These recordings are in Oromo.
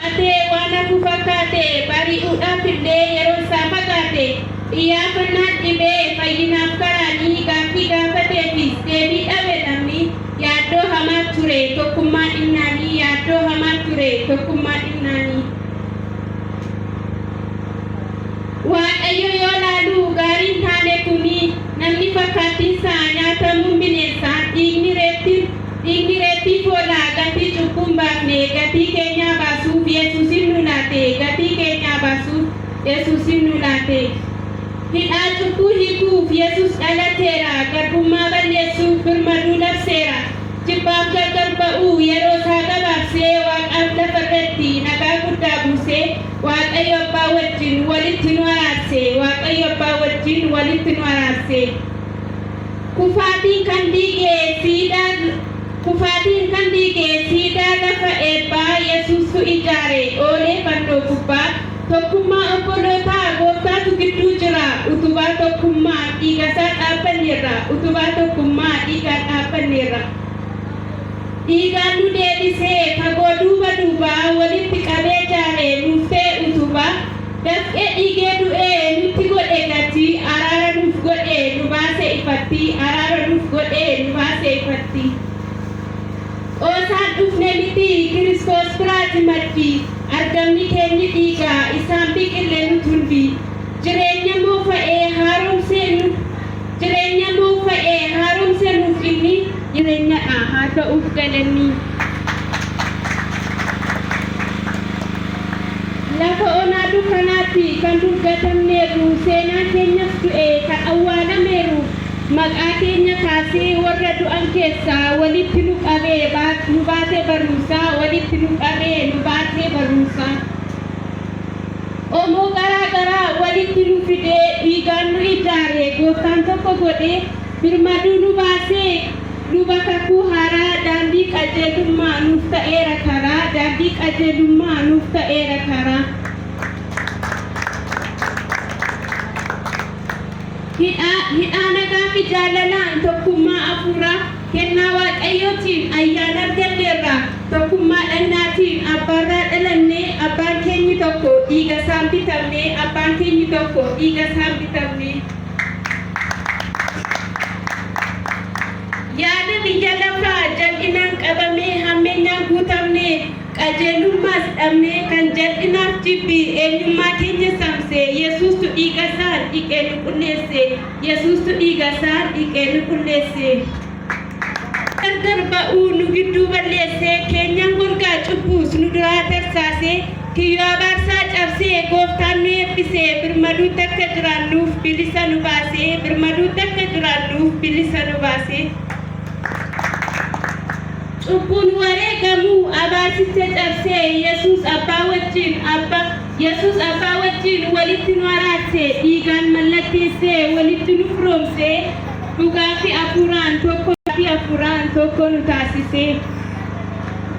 Atee waan hafu fakkaate bari'uudhaaf illee yeroon isaa fagaate. Iyyaafannaan dhibee fayyinaaf karaa ni gaaffii gaafateefis deebii dhabe namni yaaddoo hamaa ture tokkummaa dhibnaanii yaaddoo hamaa ture tokkummaa dhibnaanii. Waaqayyo yoo laalu gaariin taane kuni namni fakkaattiinsaa nyaatamuun bineensaa dhiigni reettin Dhiigni reettii foonaa gatii cubbuun baafne gatii keenyaa baasuuf yesuusin nuu laate gatii keenyaa baasuuf yesuusin nuu laate Hidhaa cubbuu hiikuuf yesuus dhalateera Garbummaa balleessuuf birmaduu labseera Jibbaaf gargar ba'uu yeroo isaa gabaabsee Waaqaaf lafa irratti nagaa guddaa buusee Waaqayyo abbaa wajjin walitti nu araarse Waaqayyo abbaa wajjin walitti nu araarse. Kufaatiin kan diige siidaa Kufaatiin kan diige siidaa lafa eebbaa Yesuus'tu ijaare oole fannoo gubbaa Tokkummaa obbolootaa gooftaatu gidduu jira Utubaa tokkummaan dhiigasaa dhaabbanneerra Utubaa tokkummaa dhiigaan dhaabbanneerra Dhiigaan nu deebisee fagoo duuba duubaa Walitti qabee jaare nuuf ta'e utubaa Dafqe dhige du'e nutti godhe gati araara nuuf godhe nu baase ifatti araara nuuf godhe nu baase ifatti Qoosaan dhufne miti kiristoos biraati maddi argamni keenyi dhiiga isaan biqille nut hundi jireenya moofa'ee haaromsee nu Jireenya nuuf ba'e haaromse nuuf inni jirenyadha haa ta'uuf galanni Lafa onaa dukkanaatti kan duggatamneerru seenaan keenyas du'e kan awwaalameeru maqaa keenya kaasee warra du'an keessaa walitti nu qabe nu baase barumsaa walitti nu qabe nu baase barumsaa. Qomoo garaa garaa walitti nu fidee, dhiigaan nu ijaare, Gooftaan tokko godhee, birmaduu nu baasee, Luba kakuu haaraa, daandii qajeelummaa nuuf ta'eera karaa, daandii qajeelummaa nuuf ta'eera karaa. Hidhaa, hidhaa nagaafi jaalalaan, tokkummaa afuuraa. Kennaa Waaqayyootiin ayyaana arganneerraa, tokkummaa dhagnaatiin abbaarraa dhalannee, abbaan keenyi tokko dhiigasaan bitamnee, abbaan keenyi tokko dhiigasaan bitamnee. Yaada biyya lafaa jal'inaan qabamee hammeenyaan guutamnee, qajeelummaas dhabnee, kan jal'inaaf jibbi eenyummaa keenya saamse, Yesuustu dhiigasaan dhiqee nu qulleesse. Yesuustu dhiiga isaa dhiqee nu qulleesse. Gargar ba'uu nu gidduu balleesse, keenyan golgaa cubbuus nu duraa tarsaase, kiyyoo abaarsaa cabsee gooftaan nu eebbise, birmaduutti akka jiraannuuf bilisa nu baase, birmaduutti akka jiraannuuf bilisa nu baase. Cubbuun wareegamuu abaarsicha cabsee, Yesuus abbaa wajjin abba. Yesuus Abbaa wajjin walitti nu araarse, dhiigaan mallatteesse, walitti nu firoomse, dhugaa fi hafuuraan tokko fi hafuuraan tokko nu taasise.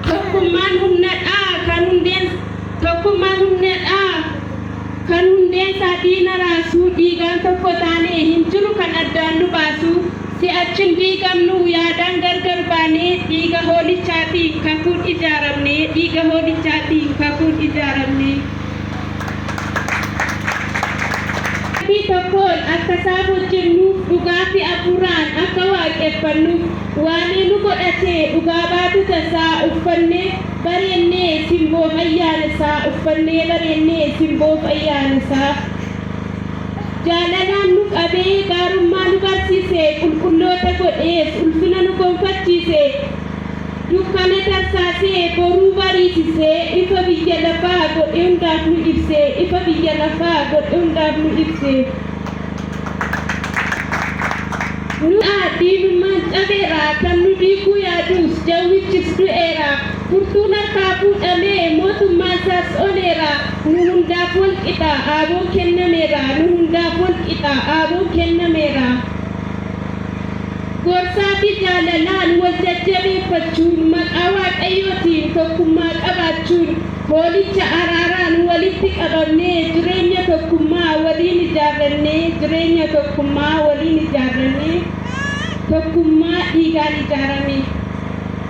Tokkummaan humna dha, kan hundeen tokkummaan humna dha, kan hundeen isaa diina raasu, dhiigaan tokko taane hin jiru kan addaan nu baasu. Si'achin diigamnuu yaadaan gargar baanee dhiiga hoolichaatiin kakuun ijaaramnee dhiiga hoolichaatiin kakuun ijaaramnee. Qalbii tokkoon akka isaaf hojjennuuf dhugaa fi afuuraan akka waaqeffannuuf waamee nu godhatee dhugaa baatota isaa uffannee bareennee simboof ayyaana isaa uffannee bareennee simboof ayyaana isaa. Jaalalaan nu qabee gaarummaa nu barsiise, qulqulloota godhees ulfina nu gonfachiise. Dukkana tarsaasee boruu bariisise, ifa biyya lafaa godhe hundaaf nu ibse, ifa biyya lafaa godhe hundaaf nu ibse. Nurraa diinummaan cabeera, kan nu diiguu yaadus jawwichis du'eera. Furtuun harkaa fuudhamee mootummaansaas oneera. Nu hundaaf wal qixa aaboon kennameera Nu hundaaf wal qixa aaboon kennameera Gorsaa fi jaalalaan wal jajjabeeffachuun Maqaa Waaqayyootiin tokkummaa qabaachuun Hoolicha araaraan walitti qabamnee Jireenya tokkummaa waliin ijaarrannee Jireenya tokkummaa waliin ijaarrannee Tokkummaa dhiigaan ijaarame.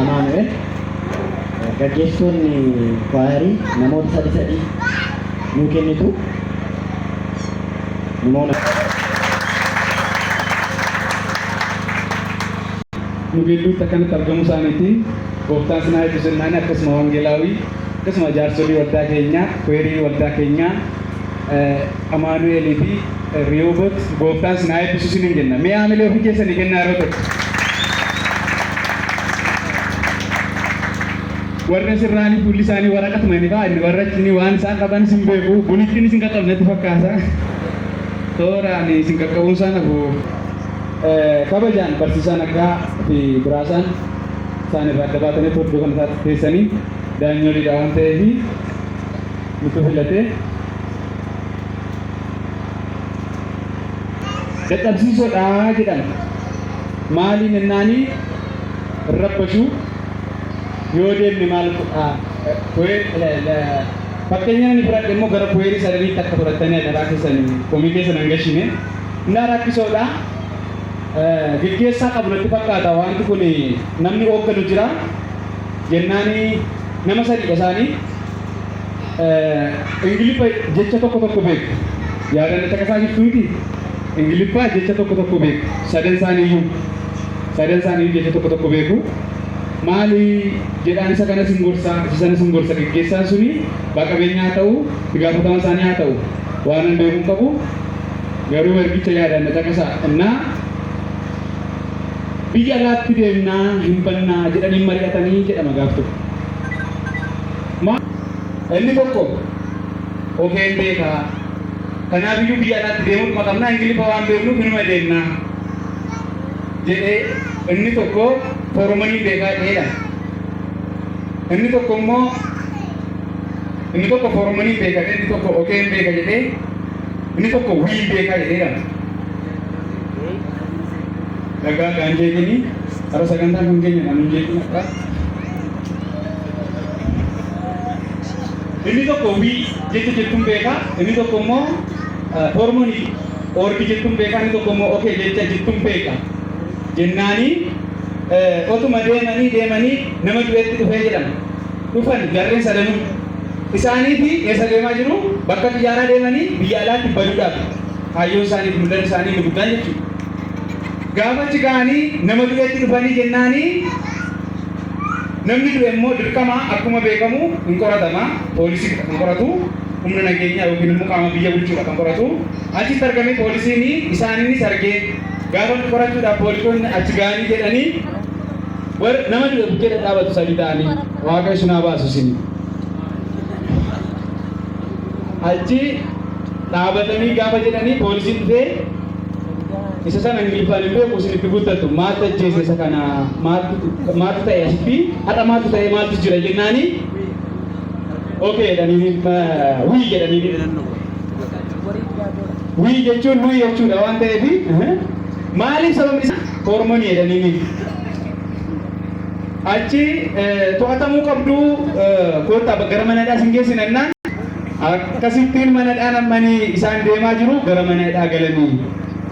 Amaanu'el gaggeessitoonni kwaayarii namoota sadi sadi nuu kennitu. Immoo na- nu gidduutti akkanatti argamuu isaaniitiin gooftaan sinaa eebbisu jennaan akkasuma wangeelaawii akkasuma jaarsolii waldaa keenyaa kweerii waldaa keenyaa eh, amaanu'eelii fi Rihoobot gooftaan sinaa eebbisu sinin jenna. Mee haamilee ofii keessanii kennaa yeroo tokko. Warri asirraanii fuulli isaanii waraqatuma inni ba'a inni warrachi inni waan isaan qaban isin beeku bunittiin isin qaqqabu natti fakkaata. Tooraan isin qaqqabuun isaan hafu kabajaan barsiisaan akka fi biraasaan isaan irraa adda baatanii torbee kana isaatti teessanii daanyooliidha waan ta'eef nutu filatee dadhabsiisoodha jedhan maaliin ennaanii rabbashuu yoo deemne maal fakkeenya inni fudhadhe immoo gara kuweerii sadaniitti akka fudhattanii adaraa keessan komii keessa nan gashine innaa rakkisoodha geggeessaa qabu natti fakkaata wanti kun namni hoogganu jira jennaani nama sadiidha isaanii Ingiliffa jecha tokko tokko beeku. Yaadanna caqasaa jirtu miti. Ingiliffaa jecha tokko tokko beeku. Sadan isaaniiyyuu. Sadan isaaniiyyuu jecha tokko tokko beeku. Maali jedhaan isa kanas hin gorsa, isa sanas hin gorsa. Geggeessaan suni abbaa qabeenyaa haa ta'u, itti gaafatama isaanii haa ta'u. Waan hin beeku hin qabu. Garuu ergicha yaadanna caqasaa innaa biyya alaatti deemnaa hin bannaa jedhanii mari'atanii jedhama gaaf tokko. Maaf? Inni tokko qubeen beeka. Kanaaf iyyuu biyya alaatti deemutuma qabna Ingiliffa waan beeknuuf inuma deemna jedhee inni tokko fooromanii beekaa ta'edha. Inni tokko immoo inni tokko fooromanii beeka inni tokko qubeen beeka jedhee inni tokko wii beekaa jedheedha. Dhagaa gaanjee jedhanii har'a sagantaan kun keenya kan hin jeeqin akka Inni tokko wii jecha jettuun beeka, inni tokko immoo hormonii orgi jettuun beeka, inni tokko immoo okee jecha jettuun beeka. Jennaani otuma deemanii deemanii nama du'etti dhufee jedhan. Dhufan jarreen sadanuu. Isaanii fi eessa deemaa jiru? Bakka xiyyaaraa deemanii biyya alaatti baduudhaaf. Kaayyoon isaanii fi mul'anni isaanii inni guddaan jechuudha. Gaafa achi ga'anii nama du'etti dhufanii jennaanii Namni du'e immoo dirqama akkuma beekamu hin qoratama. Poolisiidha kan qoratu. Humna nageenyaa yookiin immoo qaama biyya bulchuudha kan qoratu. Achitti argamee poolisiin isaaniinis argee gaafa inni qorachuudhaaf poolisoonni achi ga'anii jedhanii warri nama du'e bukkee dhadhaabatu sadii ta'anii waaqayyo isin haa baasu isin. Achi dhaabatanii gaafa jedhanii poolisiin dhufee Isa sana Ingiliffaan hin beeku isin itti guddattu maaltu ajjeese isa kana maaltu ta'e asitti har'a maaltu ta'e maaltu jira jennaani okay jedhanii wii jedhanii wii jechuun nuyi jechuudha waan ta'eef maaliif sababni isaa hormonii jedhanii achi to'atamuu qabdu koottaa gara mana hidhaa sin geessinannaan Akkasittiin mana hidhaa nammanii isaan deemaa jiru gara mana hidhaa galanii.